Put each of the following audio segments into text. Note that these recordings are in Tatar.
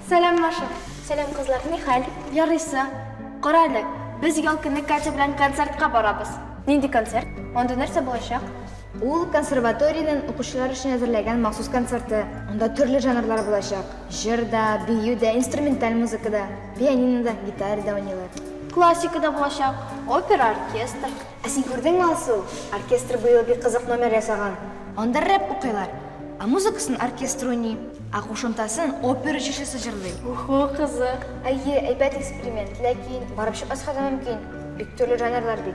Сәлам, Маша. Сәлам, кызлар, ни хәл? Ярыйсы. Кара әле, без ял көне Катя белән концертка барабыз. Нинди концерт? Анда нәрсә булачак? Ул консерваториянең укучылар өчен әзерләгән махсус концерты. Анда төрле жанрлар булачак. Җыр да, бию дә, инструменталь музыка да. Пианинода, гитарада уйныйлар. Классика да булачак, опера, оркестр. Ә син күрдеңме, Алсу, оркестр быел бик кызык номер ясаган. Анда рэп укыйлар, ә музыкасын оркестр уйный, ә кушымтасын опера җырчысы җырлый. Уху, кызык. Әйе, әйбәт эксперимент, ләкин барып чыкмаска да мөмкин, бик төрле жанрлар бит.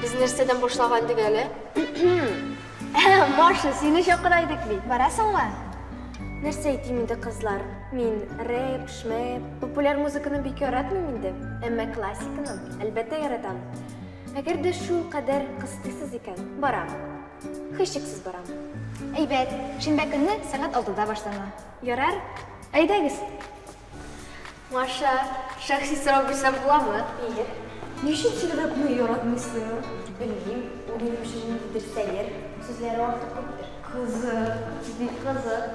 Без нәрсәдән башлаган идек әле? Маша, сине чакыра идек бит. Барасыңмы? Нәрсә әйтим инде, кызлар? Мин рэп, шмэп, популяр музыканы бик яратмыйм инде. Әмма классиканы, әлбәттә, яратам. Әгәр дә шул кадәр кыстыйсыз икән, барам. Һичшиксез барам. Әйбәт, шимбә көнне сәгать алтыда башлана. Ярар? Әйдәгез! Маша, шәхси сорау бирсәм буламы? Ие. Ничек чирләпне яратмыйсың? Белмим, ул минем өчен ниндидер сәер, сүзләре артык күптер. Кызык, бик кызык.